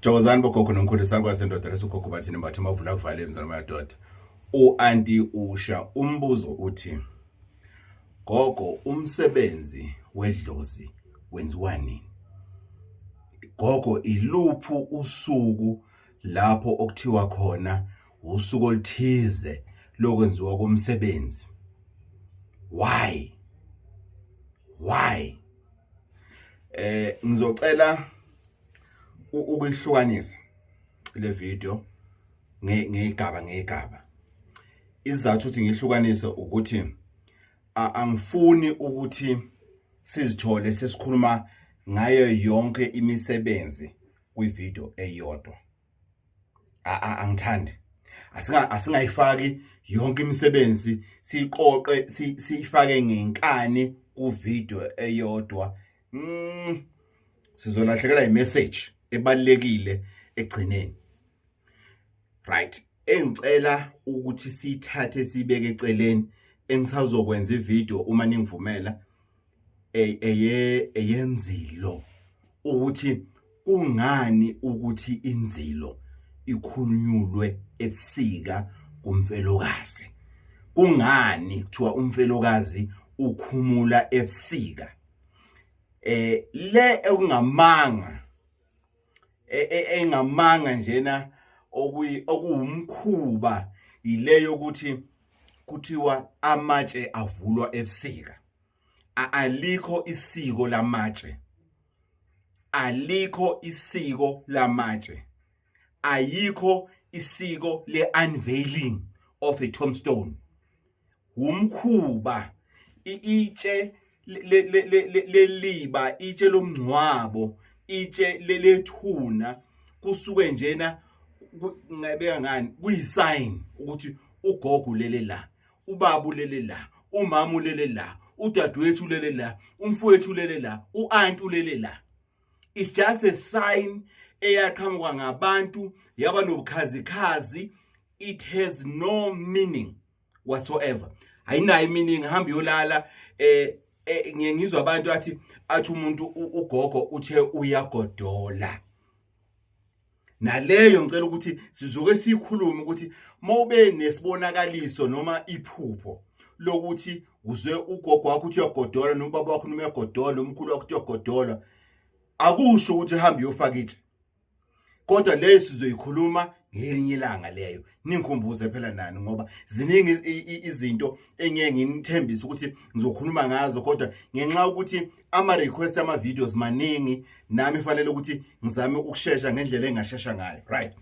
Thokozani bogogo nomkhulu sakwazi indoda lesogogo bathini mbathe amavula kuvale emzana madoda uanti usha umbuzo uthi gogo umsebenzi wedlozi wenziwa nini gogo iluphu usuku lapho okuthiwa khona usuku oluthize lokwenziwa komsebenzi why why eh ngizocela ukuyihlukanisa le video ngegaba ngegaba izathu ukuthi ngihlukanise ukuthi angifuni ukuthi sizithole sesikhuluma ngayo yonke imisebenzi kwivideo eyodwa angithandi asinga asingayifaki yonke imisebenzi siqoqe siyifake ngenkani ku video eyodwa mm sizolahlekela i message ebalekile egcineni right engicela ukuthi sithathe sibeke eceleni engisazokwenza ivideo uma ningivumela e, eye eyenzilo ukuthi kungani ukuthi inzilo ikhunyulwe ebusika kumfelokazi kungani kuthiwa umfelokazi ukhumula ebusika eh le ekungamanga e, e, engamanga njena okuyi okuwumkhuba yileyo ukuthi kuthiwa amatshe avulwa ebusika alikho isiko lamatshe alikho isiko lamatshe ayikho isiko le-unveiling of a tombstone wumkhuba itshe leliba itshe lomngcwabo itshe lelethuna kusuke njena ngabeka ngani kuyisign ukuthi ugogo lele la ubaba ulele la umama ulele la udadewethu ulele la umfowethu ulele la uanti ulele la it's just a sign eyaqhamuka ngabantu yaba nobukhazikhazi it has no meaning whatsoever ayinayo iminingi hamba yolala eh, eh ngiye ngizwa abantu athi athi umuntu ugogo uthe uyagodola naleyo ngicela ukuthi sizoke sikhulume ukuthi mawube nesibonakaliso noma iphupho lokuthi uzwe ugogo wakho uthi uyagodola nobaba wakho noma uyagodola nomkhulu wakho uthi uyagodola akusho ukuthi hambe uyofaka itshe kodwa leyo sizoyikhuluma ngelinye ilanga leyo ningikhumbuze phela nani ngoba ziningi izinto engeke nginithembise ukuthi ngizokhuluma ngazo kodwa ngenxa ukuthi ama-request ama-videos maningi nami fanele ukuthi ngizame ukushesha ngendlela engashesha ngayo right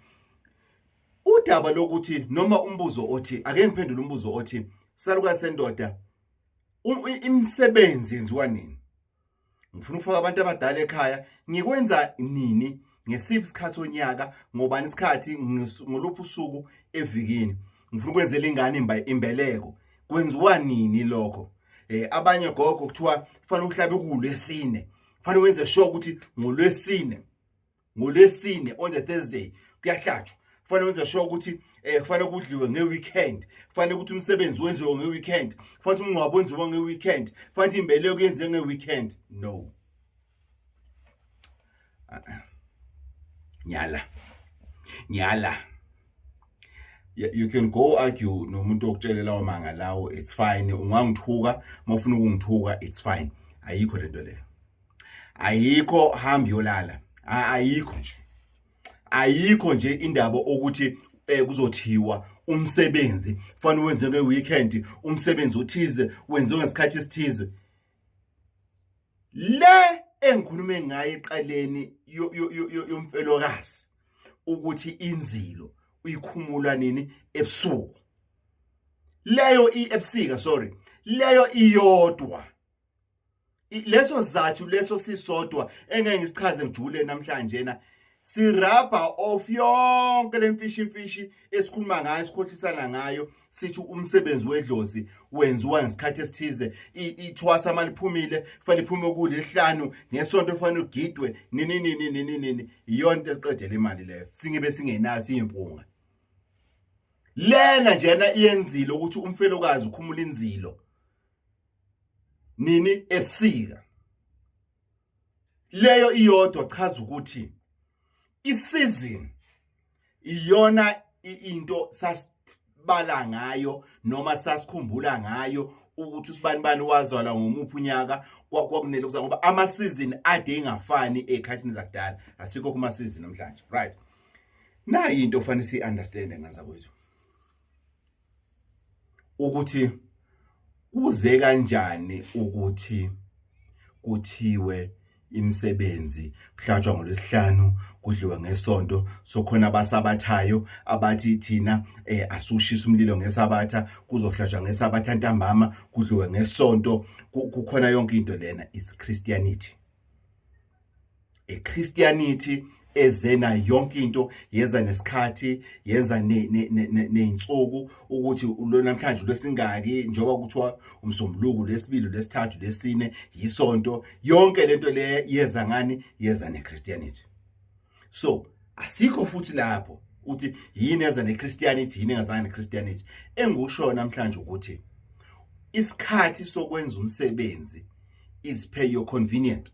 udaba lokuthi noma umbuzo othi ake ngiphendule umbuzo othi salukazi sendoda imisebenzi yenziwa nini ngifuna ukufaka abantu abadala ekhaya ngikwenza nini ngesiphi isikhathi onyaka ngobani isikhathi ngoluphi usuku evikini ngifuna ukwenzela ingane imbeleko kwenziwa nini lokho eh abanye gogo kuthiwa kufanele uhlabe kulwesine kufanele wenze sure ukuthi ngolwesine ngolwesine on the thursday kuyahlatshwa kufanele wenze sure ukuthi um eh, kufanele kudliwe nge-weekend kufanele ukuthi umsebenzi wenziwe nge-weekend kufanele ukuthi umngcwabo wenziwe nge-weekend kufanele ukuthi imbeleko yenziwe nge-weekend no nyala nyala you can go argue nomuntu okutshele lawo manga lawo it's fine ungangithuka uma ufuna ukungithuka it's fine ayikho lento leyo ayikho hambi yolala ayikho nje ayikho nje indaba ukuthi eh, kuzothiwa umsebenzi fanele wenze ke weekend umsebenzi othize wenziwe ngesikhathi esithize le engikhulume ngayo eqaleni yomfelokazi ukuthi inzilo uyikhumula nini ebusuku leyo ebusika sorry leyo iyodwa leso sizathu leso sisodwa engeke ngisichaze ngijule namhlanje na sirabha off yonke lemfishi imfishi esikhuluma ngayo esikhohlisana ngayo sithi umsebenzi wedlozi wenziwa ngesikhathi esithize ithwasa uma liphumile kufanele liphume ukudla ehlanu ngesonto kufanele ugidwe nini nini nini nini iyona into esiqedela imali leyo singibe singenayo siyimpunga lena njena iyenzile ukuthi umfelokazi ukhumula inzilo nini ebusika leyo iyodwa chaza ukuthi isizini iyona into sasibala ngayo noma sasikhumbula ngayo ukuthi usibani bani wazalwa ngomuphi unyaka kwakunele kuza ngoba amasizini ade ingafani ekhathini zakudala asikho kuma sizini namhlanje right nayi into fanele si understand ngaza kwethu ukuthi kuze kanjani ukuthi kuthiwe imisebenzi kuhlatshwa ngolwesihlanu kudliwe ngesonto sokhona abasabathayo abathi thina eh asushisa umlilo ngesabatha kuzohlatshwa ngesabatha ntambama kudliwe ngesonto kukhona yonke into lena is christianity iChristianity ezena yonke into yeza nesikhathi yenza nezinsuku ukuthi lo namhlanje lwesingaki njengoba kuthiwa umsombuluko lesibili lesithathu lesine yisonto yonke lento le yeza ngani yeza neChristianity so asikho futhi lapho uthi yini eza neChristianity yini engazange neChristianity engikushoyo namhlanje ukuthi isikhathi sokwenza umsebenzi is per your convenient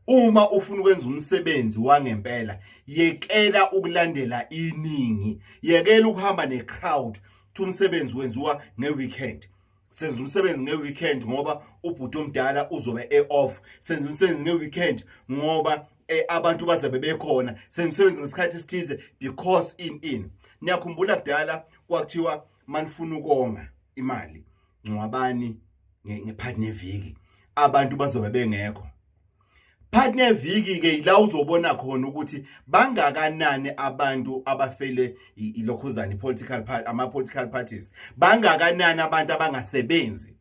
uma ufuna ukwenza umsebenzi wangempela yekela ukulandela iningi yekela ukuhamba necrowd thi umsebenzi wenziwa ngeweekend senza umsebenzi ngeweekend ngoba ubhuti omdala uzobe e-off senza umsebenzi ngeweekend ngoba eh, abantu bazabe bekhona senza umsebenzi ngesikhathi esithize because in in niyakhumbula kudala kwakuthiwa manifuna ukonga imali ngcwabani ngephakathi neviki abantu bazobe bengekho phakathi neviki-ke yila uzobona khona ukuthi bangakanani abantu abafele ilokhuzane political ama-political parties bangakanani abantu abangasebenzi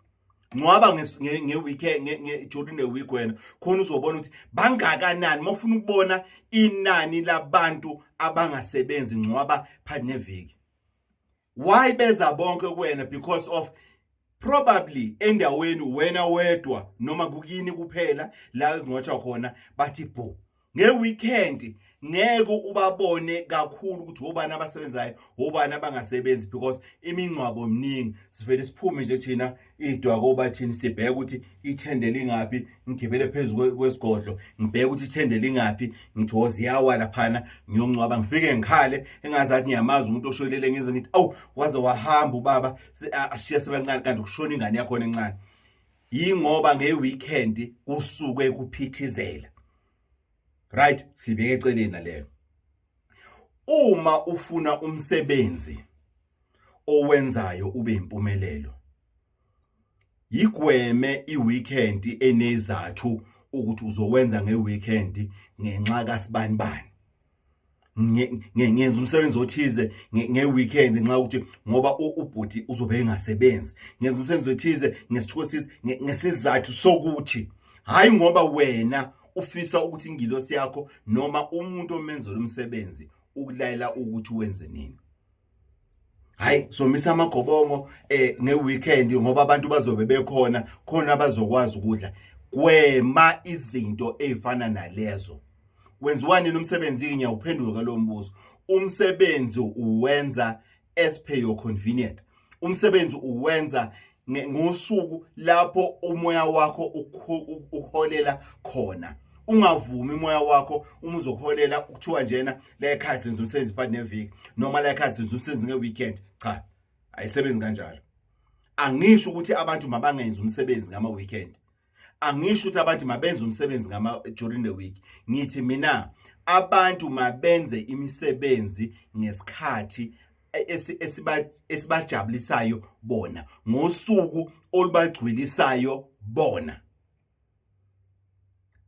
ngcwaba ngeweekend during the week wena khona uzobona ukuthi bangakanani uma ufuna ukubona inani labantu abangasebenzi ngcwaba phakathi neviki why beza bonke kuwena because of probably endaweni wena wedwa noma kukini kuphela la ngotsha khona bathi bho ngeweekend ngeke ubabone kakhulu ukuthi obani abasebenzayo obani abangasebenzi because imingcwabo mningi sivele siphume nje thina idwa koba thini sibheke ukuthi ithende lingaphi ngigibele phezulu kwesigodlo ngibheke ukuthi ithende lingaphi ngithi woze yawa laphana ngiyoncwaba ngifike ngikhale engazathi ngiyamazi umuntu osholele ngize ngithi awu waze wahamba ubaba ashiye sebancane kanti kushona ingane yakhona encane yingoba ngeweekend kusuke kuphithizela right sibeke eceleni naleyo Uma ufuna umsebenzi owenzayo ube impumelelo, yigweme iweekend enezathu ukuthi uzowenza ngeweekend ngenxa kasibani bani. ngenza umsebenzi othize ngeweekend ngenxa yokuthi ngoba ubhuti uzobe engasebenzi ngenza umsebenzi othize ngesithuko sisi ngesizathu sokuthi hhayi ngoba wena ufisa ukuthi ingilosi yakho noma umuntu omenzela umsebenzi ukulayela ukuthi wenze nini hayi somisa amagobongo eh ngeweekend ngoba abantu bazobe bekhona khona abazokwazi ukudla gwema izinto ezifana nalezo wenziwani nomsebenzi ngiya uphendulo kwalombuzo umsebenzi uwenza as per your convenient umsebenzi uwenza ngosuku lapho umoya wakho uholela khona ungavumi umoya wakho uma uzoholela kuthiwa njena la ekhaya senza umsebenzi part neviki noma la ekhaya senza umsebenzi ngeweekend cha ayisebenzi kanjalo angisho ukuthi abantu mabangenzi umsebenzi ngama-weekend angisho ukuthi abantu mabenze umsebenzi ngama during the week ngithi mina abantu mabenze imisebenzi ngesikhathi esibajabulisayo bona ngosuku olubagcwilisayo bona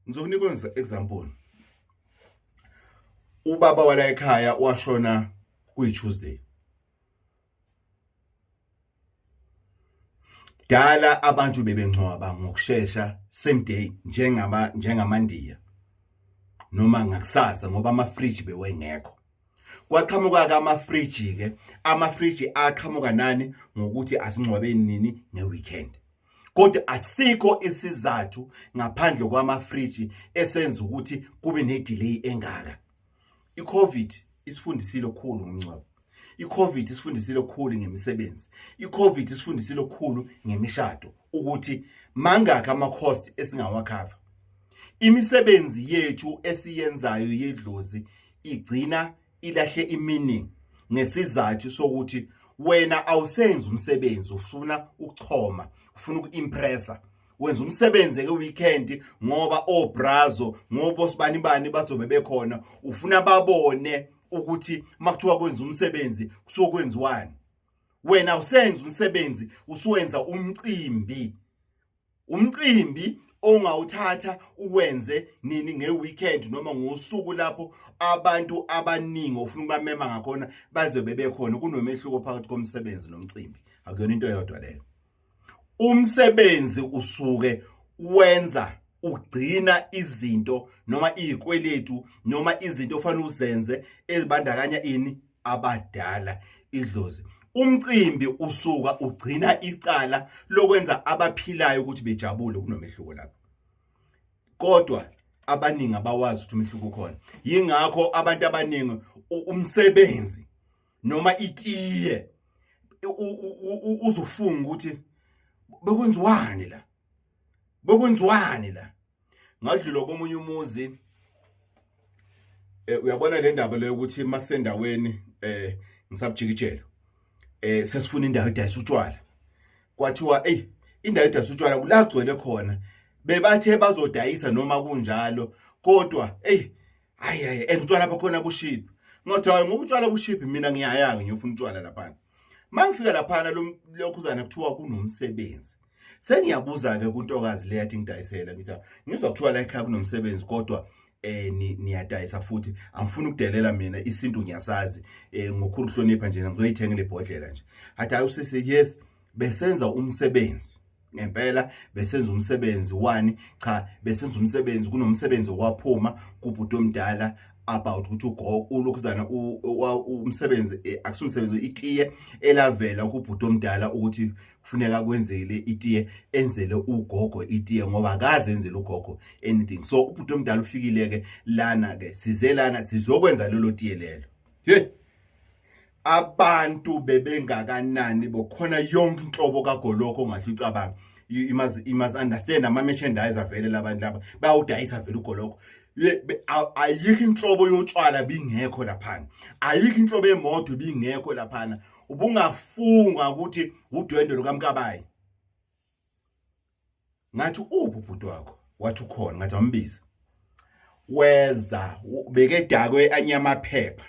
ngizokunika ngiza example ubaba wala ekhaya washona kuyi Tuesday Dala abantu bebengcwaba ngokushesha same day njengama njengamandiya noma ngakusasa ngoba ama fridge bewengekho kwaqhamuka ke amafriji ke amafriji aqhamuka nani ngokuthi asingcwabeni nini ngeweekend kodwa asikho isizathu ngaphandle kwamafriji esenza ukuthi kube nedelay engaka iCovid isifundisile okukhulu ngomngcwabo iCovid isifundisile okukhulu ngemisebenzi iCovid isifundisile okukhulu ngemishado ukuthi mangakhi ama-cost esingawakhava imisebenzi yethu esiyenzayo yedlozi igcina ilahle iminingi ngesizathu sokuthi wena awusenzi umsebenzi ufuna ukuchoma ufuna ukuimpressa wenza umsebenzi ke weekend ngoba obrazo ngoba osibani bani bazobe bekhona ufuna babone ukuthi makuthiwa kwenza umsebenzi kusokwenziwani wena usenza umsebenzi usuwenza umcimbi umcimbi ongawuthatha uwenze nini ngeweekend noma ngosuku lapho abantu abaningi ofuna ukubamema ngakhona bazobe bekhona kunomehluko phakathi komsebenzi nomcimbi akuyona into eyodwa leyo umsebenzi usuke wenza ugcina izinto noma izikweletu noma izinto ofanele uzenze ezibandakanya ini abadala idlozi umcimbi usuka ugcina icala lokwenza abaphilayo ukuthi bejabule kunomehluko lapho kodwa abaningi abawazi ukuthi umehluko ukhona yingakho abantu abaningi umsebenzi noma itiye uzofunga ukuthi bekwenziwani la bekwenziwani la ngadlula komunye umuzi eh, uyabona le ndaba leyo ukuthi masendaweni eh ngisabujikijela eh sesifuna indawo edayisa utshwala kwathiwa ey indawo edayisa utshwala kulagcwele khona bebathe bazodayisa noma kunjalo kodwa ey hayi hayi and utshwala bakhona bushiphi ngothi hayi ngoba utshwala bushiphi mina ngiyayanga ngiyofuna utshwala laphana mangifika laphana lokhuzana kuthiwa kunomsebenzi sengiyabuza-ke kuntokazi le yathi ngidayisela ngithi ngizwa kuthiwa la ekhaya kunomsebenzi kodwa eh niyadayisa futhi angifuni ukudelela mina isintu ngiyasazi eh ngokhulu hlonipha nje ngizoyithenga lebhodlela nje hathi ayi usisi yes besenza umsebenzi ngempela besenza umsebenzi wani cha besenza umsebenzi kunomsebenzi okwaphuma kubhuti omdala about ukuthi ugogo ulokhuzana umsebenzi eh, akusumsebenzi itiye elavela kubhuti omdala ukuthi kufuneka kwenzele itiye enzele ugogo itiye ngoba akaze enzele ugogo anything so ubhuti omdala ufikile ke lana ke size lana sizokwenza lelo tiye lelo hey abantu bebengakanani bokhona yonke inhlobo kagoloko ongahle ucabanga you must you must understand ama merchandise avele labantu laba bayawudayisa vele ugoloko ayikho inhlobo yotshwala bingekho laphana ayikho inhlobo yemoto bingekho laphana ubungafunga ukuthi udwendwe lukamkabayi ngathi uphi ubhuti wakho wathi ukhona ngathi wambiza weza bekedakwe anyamaphepha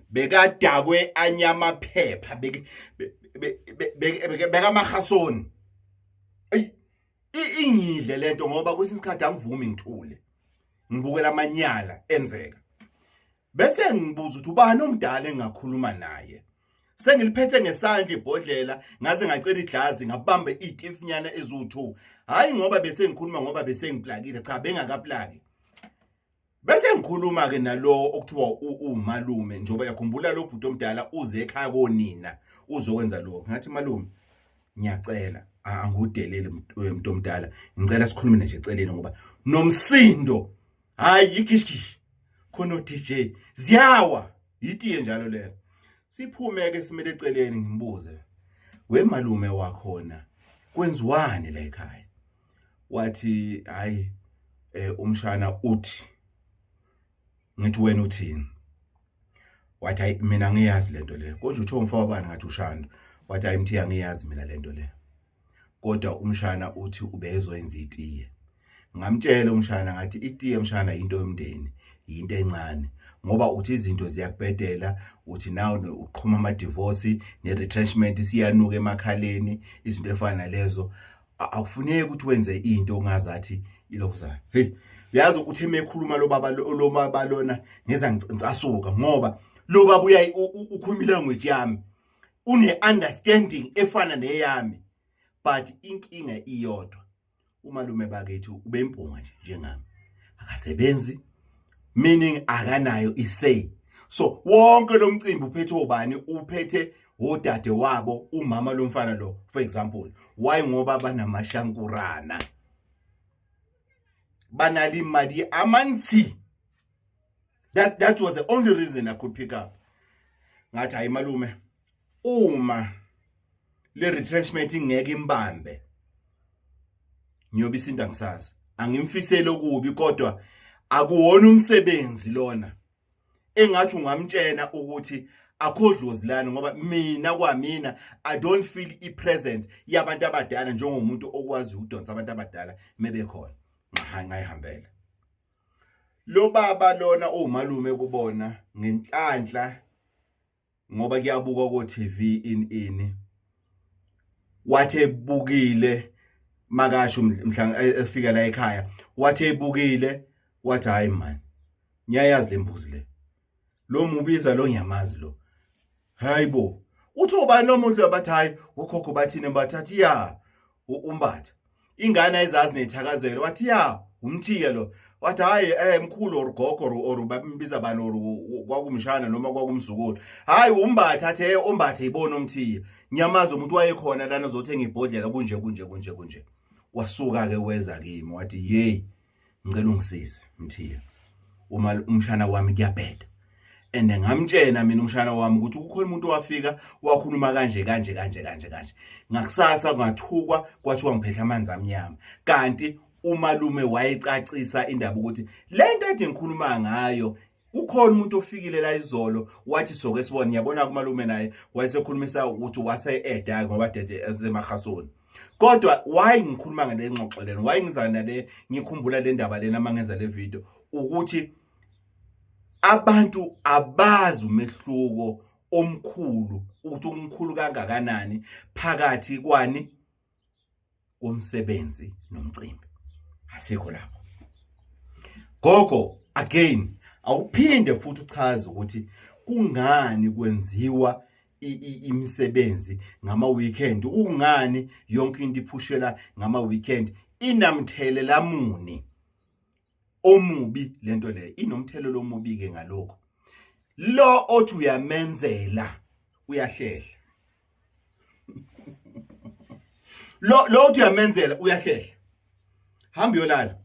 bekadakwe anyamaphepha bekamahasoni eyi ingidle lento ngoba kwesinye isikhathi angivumi ngithule ngibukela amanyala enzeka Bese ngibuza ukuthi ubani omdala engakhuluma naye. Sengiliphethe ngesandla ibhodlela ngaze ngacela iglazi ngabamba itifinyana ezu2. Hayi ngoba bese ngikhuluma ngoba bese ngiplakile cha bengakaplaki. Bese ngikhuluma ke nalowo okuthiwa umalume njoba yakhumbula lo bhuti omdala uze ekhaya konina uzokwenza lokho. Ngathi malume ngiyacela angudeleli mntu omdala ngicela sikhulume nje eceleni ngoba nomsindo hayi yikishkish khona uDJ ziyawa yitiye njalo lelo siphume ke simele eceleni ngimbuze we malume wakhona kwenziwani la ekhaya wathi hayi eh, umshana uthi ngithi wena uthini wathi hayi mina ngiyazi lento le kodwa uthe umfowabani ngathi ushando wathi hayi mthiya ngiyazi mina lento le kodwa umshana uthi ubezoyenza itiye ngamtshela umshana ngathi itiye mshana yinto yomndeni yinto encane ngoba uthi izinto ziyakubhedela uthi now uqhuma ama-divorce ne-retrenchment siyanuka emakhaleni izinto efana nalezo akufuneki ukuthi wenze into ongazathi ilokhuzana heyi uyazi ukuthi emekhuluma lo baba lo baba lona ngeza ngicasuka ngoba lo baba uyayi ukhuluma ilanguage yami une-understanding efana neyami but inkinga iyodwa umalume bakethu ubempunga nje njengami akasebenzi meaning akanayo isay so wonke lo mcimbi uphethe obani uphethe odade wabo umama lomfana lo for example why ngoba banamashankurana banali imali amanzi that that was the only reason i could pick up ngathi hayi malume uma le retrenchment ingeke imbambe ngiyobe isinda ngisazi angimfisele okubi kodwa akuwona umsebenzi lona engathi ungamtshena ukuthi akho dlozi lani ngoba mina kwamina i don't feel i present yabantu abadala njengomuntu okwazi ukudonsa abantu abadala mebekhona ngahangayihambela Lobaba lona umalume kubona ngenhlanhla ngoba kuyabuka ko TV in ini. Wathi ebukile makasho mhla e, efika la ekhaya wathi ebukile wathi hayi man ngiyayazi lembuzi le lo mubiza lo ngiyamazi lo hayi bo uthi ubani lo muntu abathi hayi ukhokho bathini bathathi ya umbatha ingane ayizazi nethakazelo wathi ya umthiya lo wathi hayi eh mkhulu or gogo or babimbiza bani or kwakumshana noma kwakumzukulu hayi umbatha athe eh, umbathe ibona umthiya nyamazi umuntu wayekhona lana zothenga ibhodlela kunje kunje kunje kunje wasuka ke weza kimi wathi yeyi ngicela ungisize mthiya uma umshana wami kuyabheda and ngamtshena mina umshana wami ukuthi kukhona umuntu owafika wakhuluma kanje kanje kanje kanje kanje ngakusasa ngathukwa kwathiwa ngiphethe amanzi amnyama kanti umalume wayecacisa indaba ukuthi le nto ade ngikhuluma ngayo kukhona umuntu ofikile la izolo wathi soke sibone yabona kumalume naye wayesekhulumisa ukuthi wase eda ngoba dede esemahasoni kodwa why ngikhuluma ngale ngxoxo lena why ngizana le ngikhumbula le ndaba lena mangenza le video ukuthi abantu abazi umehluko omkhulu ukuthi umkhulu kangakanani phakathi kwani komsebenzi nomcimbi asikho lapho gogo again awuphinde futhi uchaze ukuthi kungani kwenziwa imisebenzi ngama weekend ungani yonke into iphushela ngama weekend inamthelela muni omubi lento le inomthelelo omubi ke ngalokho lo othi uyamenzela uyahlehla lo lo uthi uyamenzela uyahlehla hamba yolala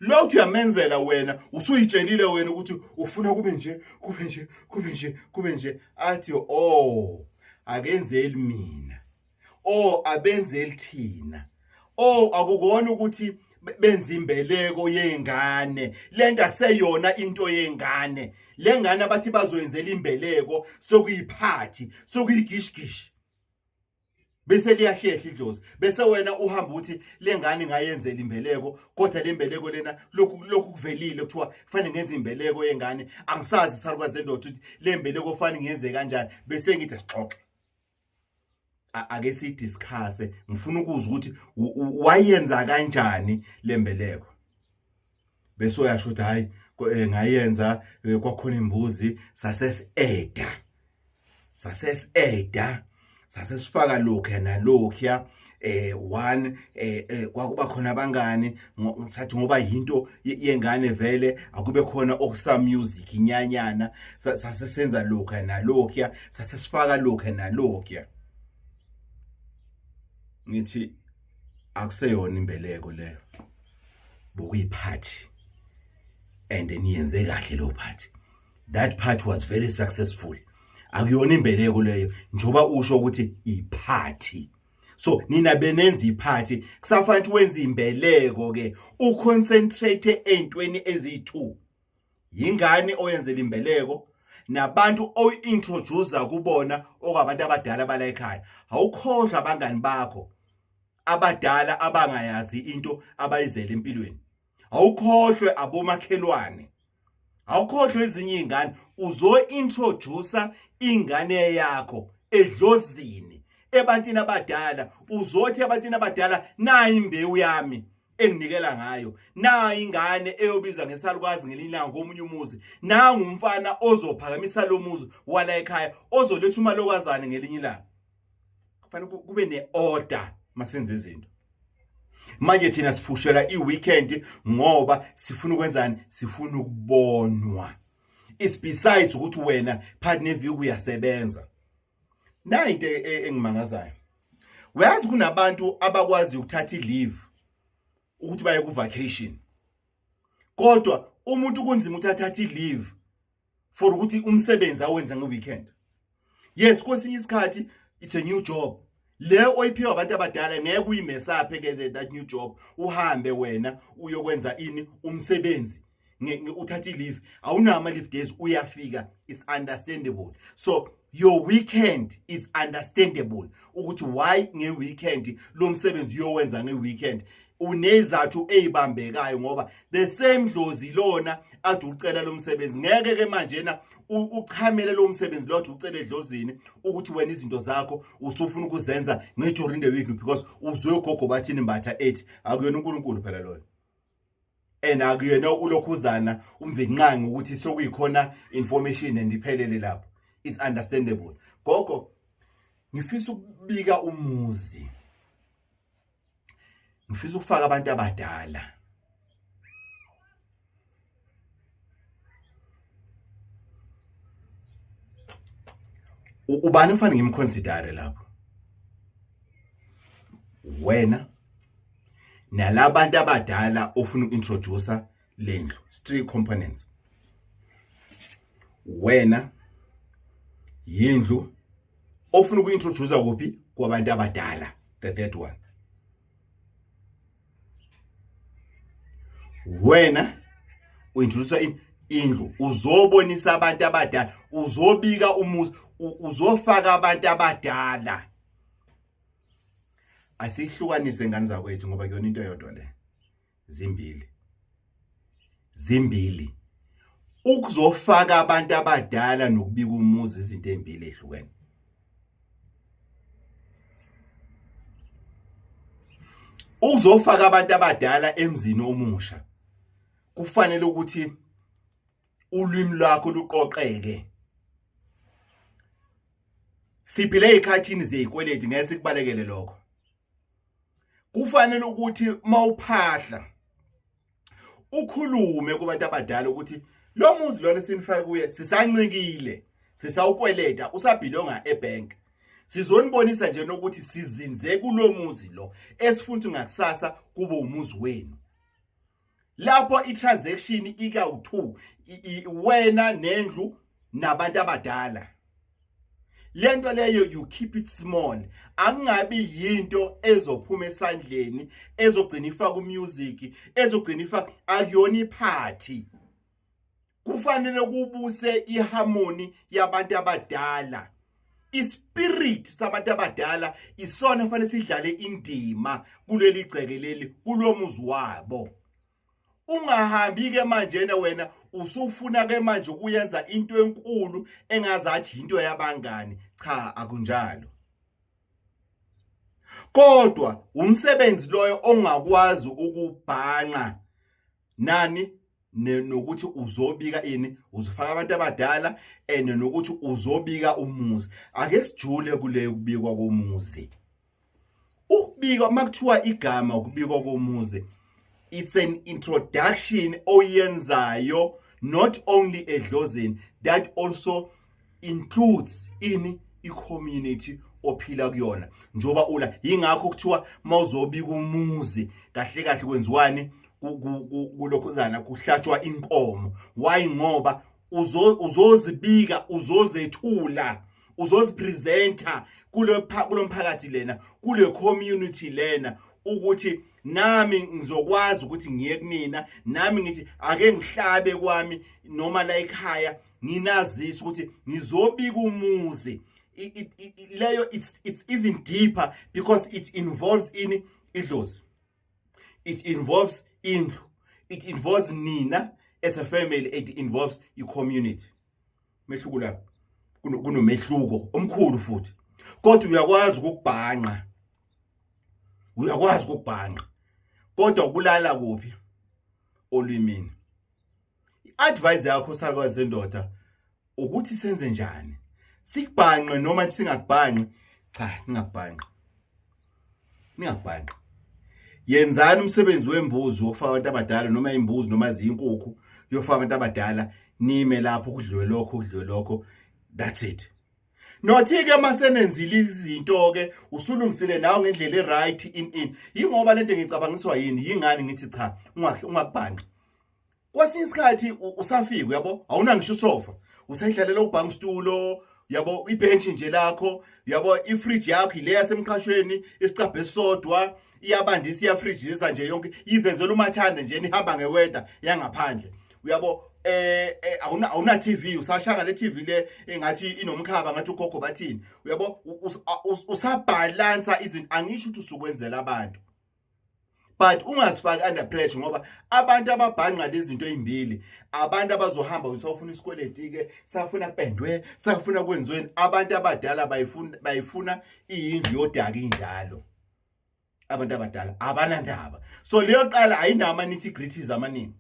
lo uthi uyamenzela wena usuyitshelile wena ukuthi ufuna kube nje kube nje kube nje kube nje athi oh akenzeli mina oh abenze lithina oh akukona ukuthi benza imbeleko yengane lento akuseyona into yengane lengane abathi bazoyenzela imbeleko sokuyiphathi sokuyigishigishi bese liyahlehla idlozi bese wena uhamba uthi lengane ngayenzela imbeleko kodwa lembeleko lena lokhu lokhu kuvelile kuthiwa kufanele ngenze imbeleko yengane angisazi isalukazi endoda ukuthi lembeleko kufanele ngenze kanjani bese ngithi sixoxe ake si discuss ngifuna ukuzwa ukuthi wayenza kanjani lembeleko bese uyasho ukuthi hayi eh, ngayenza eh, kwakhona imbuzi saseseda saseseda sasesifaka lokho nalokho eh one eh, eh kwakuba khona abangani sathi ngoba yinto yengane vele akube khona okusa music inyanyana sase senza lokha nalokya sase sifaka lokha nalokya ngithi akuseyona imbeleko leyo bokuyiphathi and niyenze kahle lo phathi that part was very successful akuyona imbeleko leyo njoba usho ukuthi iphathi so nina benenza iphathi kusafanele ukuthi wenze imbeleko ke uconcentrate eintweni eziyi2 yingane oyenzela imbeleko nabantu oyi-introduce kubona okwabantu abadala bala ekhaya awukhohlwa abangani bakho abadala abangayazi into abayizela empilweni awukhohlwe abomakhelwane awukhohlwe ezinye izingane uzointroduce ingane yakho edlozini ebantini abadala uzothi ebantini abadala nayi imbewu yami enginikela ngayo nayi ingane eyobiza ngesalukwazi ngelinye ilanga komunye umuzi nangu umfana ozophakamisa lo muzi wala ekhaya ozoletha umalokazane ngelinye ilanga kufanele kube ne-order masenze izinto manje thina siphushela i-weekend ngoba sifuna ukwenzani sifuna ukubonwa is besides ukuthi wena part neview kuyasebenza nayi into e- e- engimangazayo uyazi kunabantu abakwazi ukuthatha i-leave ukuthi baye ku-vacation kodwa umuntu kunzima ukuthi athathe i-leave for ukuthi umsebenzi awenze ngeweekend yes kwesinye isikhathi it's a new job le oyiphiwa abantu abadala ngeke uyimesaphe ke that new job uhambe wena uyokwenza ini umsebenzi uthatha i-leave awunawo ama-leave days uyafika it's understandable so your weekend it's understandable ukuthi why ngeweekend lo msebenzi uyowenza ngeweekend unezathu eyibambekayo ngoba the same dlozi lona athi ucela lo msebenzi ngeke ke manje na uchamele lo msebenzi lo athi ucela edlozini ukuthi wena izinto zakho usufuna ukuzenza ngeduring the week because uzwe ugogo bathini mbatha ethi akuyona uNkulunkulu phela loyo and akuyena ulokhuzana umvinqangi ukuthi sokuyikhona information and iphelele lapho it's understandable gogo ngifisa ukubika umuzi ngifisa ukufaka abantu abadala ubani ufanele ngimconsidere lapho wena nalabantu abadala ofuna uintroducer lendlu three components wena yindlu ofuna ukuintroducer kuphi kwabantu abadala the third one wena uintroducer in indlu uzobonisa abantu abadala uzobika umuzi uzofaka abantu abadala asihlukanise ngane zakwethu ngoba kuyona into eyodwa le zimbili zimbili ukuzofaka abantu abadala nokubika umuzi izinto ezimbili ehlukene uzofaka abantu abadala emzini omusha kufanele ukuthi ulwimi lwakho luqoqeke siphile ezikhathini zezikweleti ngeke sikubalekele lokho kufanele ukuthi mawuphahla ukhulume kubantu abadala ukuthi lo muzi lona sinifaka kuye sisancikile sisawukweleta usabhilonga ebank sizonibonisa nje nokuthi sizinze kulomuzi lo esifuna ngakusasa kube umuzi wenu lapho i-transaction ikawu-2 wena nendlu nabantu abadala lento leyo you keep it small angabi yinto ezophuma esandleni ezogcina ifaka umusic ezogcina ifaka akuyona iphathi kufanele kubuse iharmony yabantu abadala ispirit sabantu abadala isona kufanele sidlale indima kuleli gceke leli kulomuzi wabo ungahambi ke manje ne wena usufuna ke manje ukuyenza into enkulu engazathi into yabangani cha akunjalo kodwa umsebenzi loyo ongakwazi ukubhanqa nani nokuthi uzobika ini uzofaka abantu abadala and nokuthi uzobika umuzi ake sijule kule kubikwa komuzi ukubika makuthiwa igama ukubikwa komuzi it's an introduction oyenzayo not only edlozini that also includes ini i-community ophila kuyona njoba ula yingakho kuthiwa mawuzobika umuzi kahle kahle kwenziwani kulokhuzana kuhlatshwa inkomo why ngoba uzozibika uzozethula uzozipresenter kulo mphakathi lena kule community lena ukuthi nami ngizokwazi ukuthi ngiye kunina nami ngithi ake ngihlabe kwami noma la ekhaya nginazisa ukuthi ngizobika umuzi leyo it's it's even deeper because it involves ini idlozi it involves indlu it involves nina as a family it involves i community mehluko lapho kunomehluko omkhulu futhi kodwa uyakwazi ukubhanqa uyakwazi ukubhanqa kodwa ukulala kuphi olwimini I-advice yakho sakwazi sendoda ukuthi senze njani sikubhanqe noma singakubhanqi cha ningakubhanqi ningakubhanqi yenzani umsebenzi wembuzi wokufaka abantu abadala noma imbuzi noma ziyinkukhu yofaka abantu abadala nime lapho kudliwe lokho kudliwe lokho that's it nothi-ke uma senenzile izinto-ke usulungisile nawe ngendlela e-right in in yingoba le nto ngicabangiswa yini yingani ngithi cha ungakubhanqi kwesinye isikhathi usafika uyabo awuna ngisho usofa usedlalela ubhanga stulo yabo ibhenchi nje lakho yabo ifridge yakho ile yasemqashweni isicabhe sodwa iyabandisa iyafrijisa nje yonke izenzela umathanda nje nihamba ngeweda yangaphandle uyabo eh, eh awuna awuna TV usashanga le TV le engathi inomkhaba ngathi ugogo bathini uyabo usabalansa izinto angisho ukuthi usukwenzela abantu but ungasifaki under pressure ngoba abantu ababhanqa lezinto ezimbili abantu abazohamba usawufuna isikweleti ke safuna kupendwe safuna kwenziweni abantu abadala bayifuna bayifuna iyindlu yodaka injalo abantu abadala abanandaba so leyo qala ayinama nitty gritties amaningi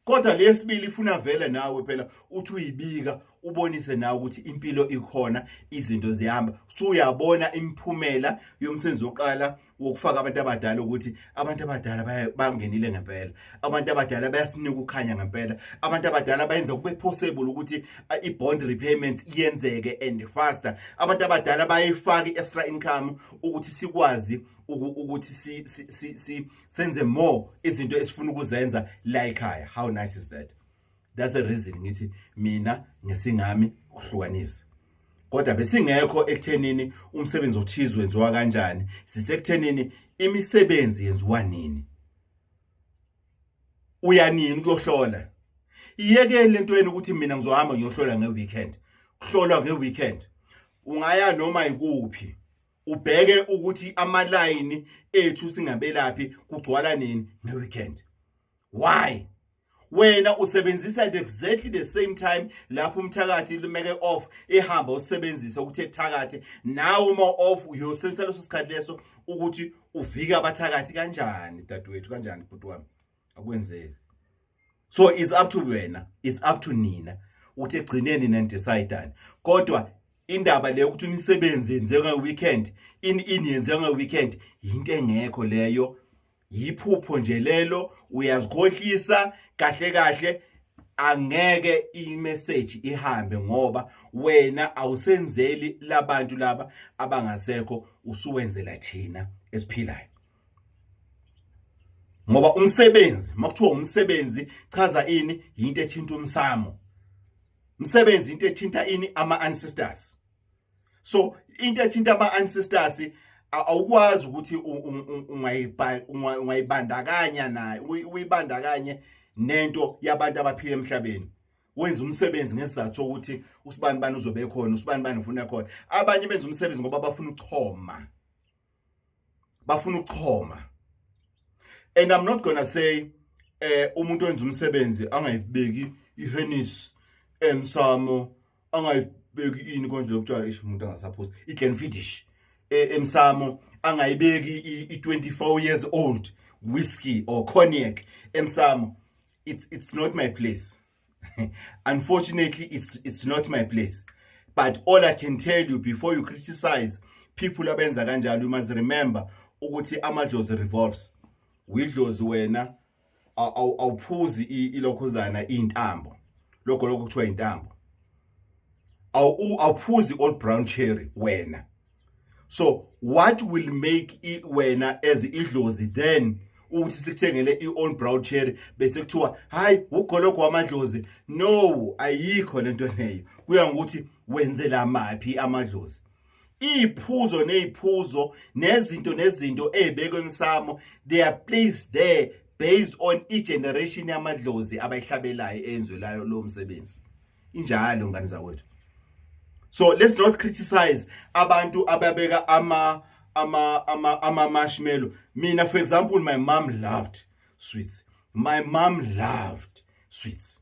kodwa leyesibili ifuna vele nawe phela uthi uyibika ubonise nawe ukuthi impilo ikhona izinto zihamba so uyabona imiphumela yomsebenzi wokuqala wokufaka abantu abadala ukuthi abantu abadala bangenile ngempela abantu abadala bayasinika ukukhanya ngempela abantu abadala bayenza kube possible ukuthi uh, i-bond repayments iyenzeke and faster abantu abadala bayifaka i-extra income ukuthi sikwazi ukuthi senze more izinto esifuna ukuzenza la ekhaya how nice is that that's a reason ngithi mina ngesingami ukuhlukanisa kodwa besingekho ekuthenini umsebenzi othize wenziwa kanjani sisekuthenini imisebenzi yenziwa nini uyanini kuyohlola iyekele lento yenu ukuthi mina ngizohamba ngiyohlola ngeweekend kuhlolwa ngeweekend ungaya noma ikuphi ubheke ukuthi amalayini ethu singabelaphi kugcwala nini ngeweekend why wena usebenzisa at exactly the same time lapho umthakathi lumeke off ehamba usebenzisa ukuthi ekuthakathe nawe uma off uyosensa leso sikhathi leso ukuthi uvike abathakathi kanjani dadewethu kanjani bhuti wami akwenzeki so is up to wena is up to nina ukuthi egcineni nendecideani kodwa indaba leyo ukuthi imisebenzi yenziwa ngeweekend in in yenziwa ngeweekend yinto engekho leyo yiphupho nje lelo uyazikhohlisa kahle kahle angeke imessage ihambe ngoba wena awusenzeli labantu laba abangasekho usuwenzela thina esiphilayo ngoba umsebenzi makuthiwa umsebenzi chaza ini yinto ethinta umsamo umsebenzi into ethinta ini ama ancestors so into ethinta ama ancestors awukwazi ukuthi ungayibandakanya naye uyibandakanye nento yabantu abaphila emhlabeni wenza umsebenzi ngesizathu sokuthi usibani bani uzobe khona usibani bani ufuna khona abanye benza umsebenzi ngoba bafuna ukuchoma bafuna ukuchoma and i'm not gonna say eh umuntu wenza umsebenzi angayibeki ihenis emsamo angayibeki ini konje lokutshwala ish umuntu angasaphosi iglen finish eh, emsamo angayibeki i24 years old whiskey or cognac emsamo it's it's not my place Unfortunately, it's, it's not my place. But all I can tell you before you criticize people abenza kanjalo, you must remember ukuthi amadlozi revolves. Widlozi wena awuphuzi ilokhuzana intambo. Lokho lokho kuthiwa intambo. Awuphuzi old brown cherry wena. so what will make i wena as idlozi then ukuthi sikuthengele i-on brown cherry bese kuthiwa hayi ugologo wamadlozi no ayikho lento leyo kuya ngokuthi wenzela maphi amadlozi iyiphuzo neziphuzo nezinto nezinto ezibekwe emsamo they are placed there based on i-generation yamadlozi abayihlabelayo eyenzwe layo lo msebenzi injalo ngani zakwethu so let's not criticize abantu ababeka ama ama ama ama marshmallow mina for example my mom loved sweets my mom loved sweets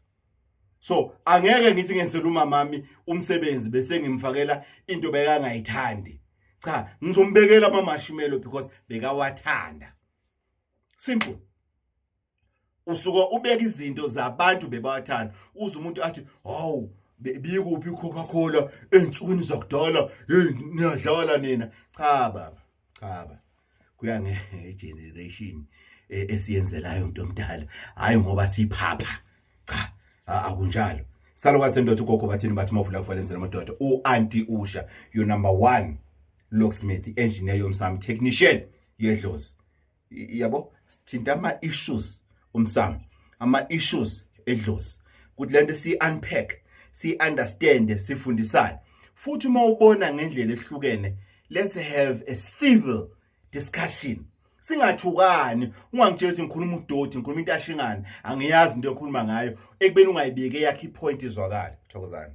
so angeke ngithi ngenzela umamami umsebenzi bese ngimfakela into bekangayithandi cha ngizombekela ama marshmallow because bekawathanda simple usuke ubeka izinto zabantu bebawathanda uze umuntu athi hawu bikuphi icoca cola ey'nsukwini zakudala heyi niyadlala nina cha baba cha baba kuya ngegeneration e, esiyenzelayo mntu omdala hhayi ngoba siphapha cha akunjalo salukwazi ndoda ugogo bathini bathi uma uvula kufanele emzela amadoda u-anti usha your number one locksmith engineer yomsami technician yedlozi yabo sithinta ama issues umsamo ama issues edlozi ukuthi lento si unpack si understand sifundisane futhi uma ubona ngendlela ehlukene let's have a civil discussion singathukani ungangitshela ukuthi ngikhuluma udoti ngikhuluma into ashingana angiyazi into ekhuluma ngayo ekubeni ungayibeke yakhe ipoint izwakala thokozani